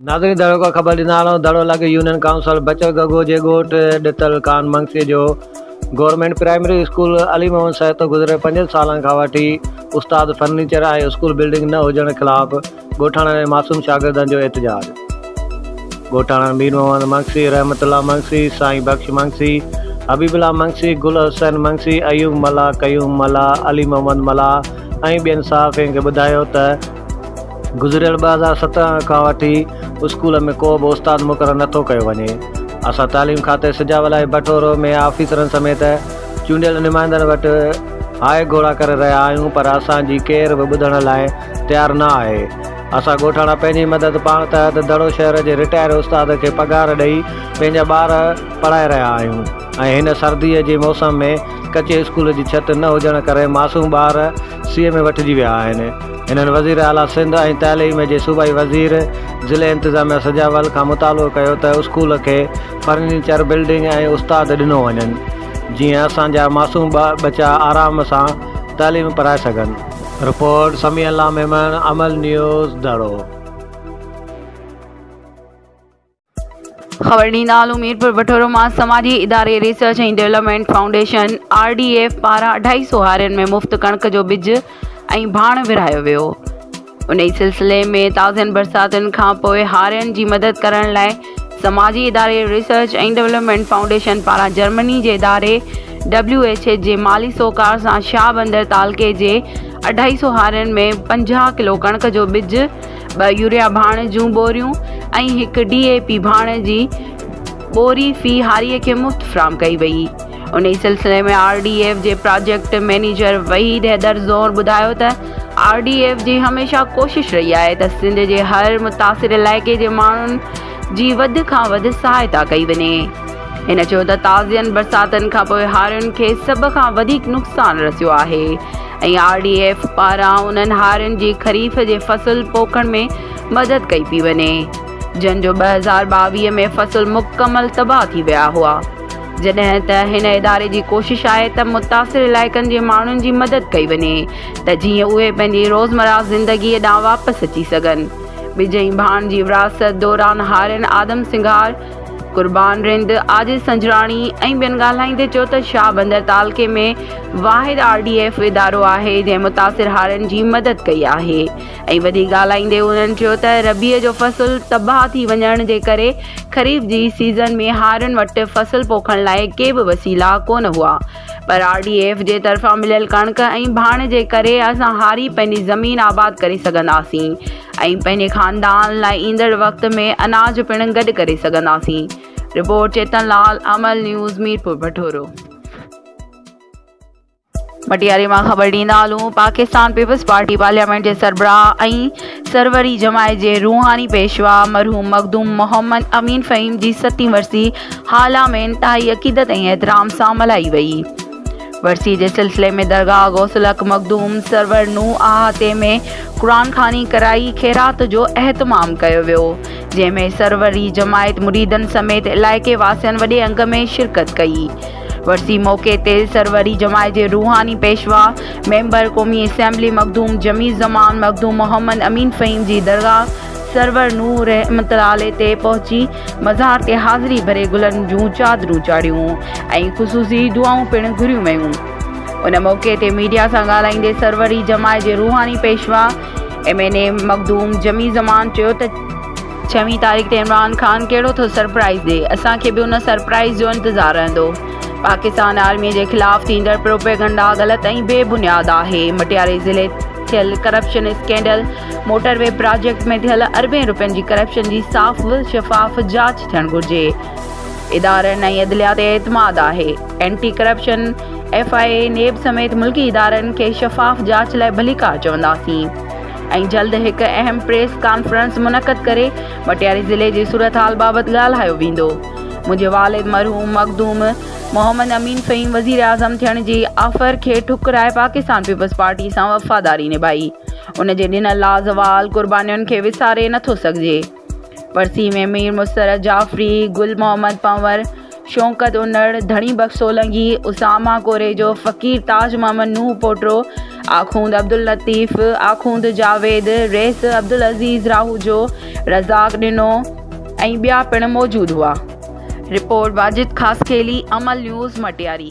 ناظرين ڌڙو کان خبر ڏيندڙ آهيون ڌڙو لاڳي يونين ڪائونسلر بچڙ گگو جي ڳوٺ ڏتل ڪان منگسي جو government primary school Ali Muhammad Sahto گذريل پنجن سالن کان وٺي استاد فرنيچر ۽ اسڪول بلڊنگ نه هجڻ خلاف ڳوٺاڻن ۽ معصوم شاگردن جو احتجاج ڳوٺاڻن مير محمد منگسي، رحمت الله منگسي، سائين بخش منگسي، حبيب الله منگسي، گل حسين منگسي، ايوب ملاح، قيوم ملاح، علي محمد ملاح ۽ ٻين صحافين کي ٻڌايو ته گذريل ٻه هزار سترهن کان وٺي اسڪول ۾ ڪو به استاد مقرر نٿو ڪيو وڃي اسان تعليم کاتي سجاول ۽ بٺورو ۾ آفيسرن سميت چونڊيل نمائندن وٽ هاء گهوڙا ڪري رهيا آهيون پر اسان جي ڪير به ٻڌڻ لاء تيار نه آهي. اسان ڳوٺاڻا پنهنجي مدد پاڻ تحت دڙو شهر جي رٽائر استاد کي پگهار ڏئي پنهنجا ٻار پڙهائي رهيا آهيون ۽ هن سرديء جي موسم ۾ ڪچي اسڪول جي ڇت نه هجڻ ڪري معصوم ٻار سيء ۾ وٺجي ويا آهن هنن وزير اعليٰ سنڌ ۽ تعليم جي صوبائي وزير ضلعي انتظاميه سجاول کان مطالبو ڪيو ته اسڪول کي فرنيچر بلڊنگ ۽ استاد ڏنو وڃن جيئن اسان جا معصوم ٻچا آرام سان تعليم پرائي سگهن. رپورٽ، سميع الله ميمڻ، عمل نيوز، ڌڙو. خبر ڏيندا هلون ميرپور وٺورو مان سماجي اداري research ۽ development foundation, R D F, پاران اڍائي سو هارين ۾ مفت ڪڻڪ جو ٻج ۽ ڀاڻ ورهايو ويو. انهي سلسلي ۾ تازين برساتن کانپوء هارين جي مدد ڪرڻ لاء سماجي اداري ريسرچ ۽ ڊولپمينٽ فائونڊيشن پاران جرمني جي اداري ڊبليو ايڇ ايڇ جي مالي سهڪار سان شاهه بندر تعلقي جي اڍائي سؤ هارين ۾ پنجاهه ڪلو ڪڻڪ جو ٻج، ٻه يوريا ڀاڻ جون ٻوريون ۽ هڪ ڊي اي پي ڀاڻ جي ٻوري في هاريء کي مفت فراهم ڪئي ويئي. انهي سلسلي ۾ آر ڊي ايف جي پراجيڪٽ مئنيجر وحيد حيدر زور ٻڌايو ته آر ڊي ايف جي هميشه ڪوشش رهي آهي ته سنڌ جي هر متاثر علائقي جي ماڻهن جي وڌ کان وڌ سهائتا ڪئي وڃي هن چيو ته تازين برساتن کانپوء هارين کي سڀ کان وڌيڪ نقصان رسيو آهي ۽ آر ڊي ايف پاران انهن هارين جي خريف جي فصل پوکڻ ۾ مدد ڪئي پئي وڃي جن جو ٻه هزار ٻاويهه ۾ فصل مڪمل تباهه ٿي ويا هئا جڏهن ته هن اداري جي ڪوشش آهي ته متاثر علائقن جي ماڻهن جي مدد ڪئي وڃي ته جيئن اهي پنهنجي روزمره زندگي ڏانهن واپس اچي سگهن. ٻج ۽ ڀاڻ جي ورهاست دوران هارين آدم سنگهار، قربان رند، عاجز سنجراڻي ۽ ٻين ڳالهائيندي چيو ته شاهه بندر تعلقي ۾ واحد آر ڊي ايف ادارو آهي جنهن متاثر هارين جي مدد ڪئي آهي. ۽ وڌيڪ ڳالهائيندي انهن چيو ته ربيع جو فصل تباهه ٿي وڃڻ جي ڪري خريف جي سيزن ۾ هارين وٽ فصل پوکڻ لاء ڪي به وسيلا ڪونه هئا پر آر ڊي ايف جي طرفان مليل ڪڻڪ ۽ ڀاڻ جي ڪري اسان هاري پنهنجي زمين آباد ڪري سگهنداسين ۽ پنهنجي خاندان لاء ايندڙ وقت ۾ اناج پڻ گڏ ڪري سگهنداسين رپورٽ چيتن لال امل نيوز ميرپور بٺورو مٽياري مان خبر ڏيندا هلون، پاڪستان پيپلز پارٽي پارليامينٽ جي سربراهه ۽ سروري جماعت جي روحاني پيشوا مرحوم مخدوم محمد امين فهيم جي ستين ورسي هالا ۾ انتهائي عقيدت ۽ احترام سان ملهائي وئي. ورسي جي سلسلي ۾ درگاهه غوث الحق مخدوم سرور نوح احاطي ۾ قرآن خواني ڪرائي خيرات جو اهتمام ڪيو ويو، جنهن ۾ سروري جماعت مريدن سميت علائقي واسين وڏي انگ ۾ شرڪت ڪئي. ورسي موقعي تي سروري جماعت جي روحاني پيشوا ميمبر قومي اسيمبلي مخدوم جميل زمان مخدوم محمد امين فهيم جي درگاهه سرور نوح رحمت الله عليه تي پهچي مزار تي حاضري ڀري گلن جون چادرون چاڙهيون ۽ خصوصي دعائون پڻ گهريون ويون ان موقعي تي ميڊيا سان ڳالهائيندي سروري جماعت جي روحاني پيشوا M N A Makhdoom Jamil Zaman چيو ته ڇوين تاريخ تي عمران خان ڪهڙو ٿو سرپرائيز ڏئي، اسان کي به ان سرپرائيز جو انتظار رهندو. پاڪستان آرمي جي خلاف ٿيندڙ پروپيگنڊا غلط ۽ بي بنياد آهي، مٽياري ضلعي ٿيل corruption scandal, motorway project ۾ ٿيل اربين رپين جي ڪرپشن جي صاف و شفاف جاچ ٿيڻ گهرجي، ادارن ۽ عدليه تي اعتماد آهي، anti corruption, F I A, NAB سميت ملڪي ادارن کي شفاف جاچ لاء ڀليڪار چونداسين. ۽ جلد هڪ اهم پريس ڪانفرنس منعقد ڪري مٽياري ضلعي جي صورتحال بابت ڳالهايو ويندو. منهنجي والد مرحوم مخدوم محمد امين فهيم وزيراعظم ٿيڻ جي آفر کي ٺڪرائي پاڪستان پيپلز پارٽي سان وفاداري نڀائي. ان جي ڏنل لازوال قربانين کي وساري نٿو سگهجي. ورسيء ۾ مير مسرت جعفري، گل محمد پنور، شوڪت انڙ، ڌڻي بخش سولنگي، اسامه ڪوريجو، فقير تاج محمد نوح پوٽرو، آخوند عبداللطيف، آخوند جاويد، رئيس عبدالعزيز راهوجو، رزاق ڏنو ۽ ٻيا پڻ موجود هئا. رپورٽ، واجد خاصخيلي، عمل نيوز، مٽياري.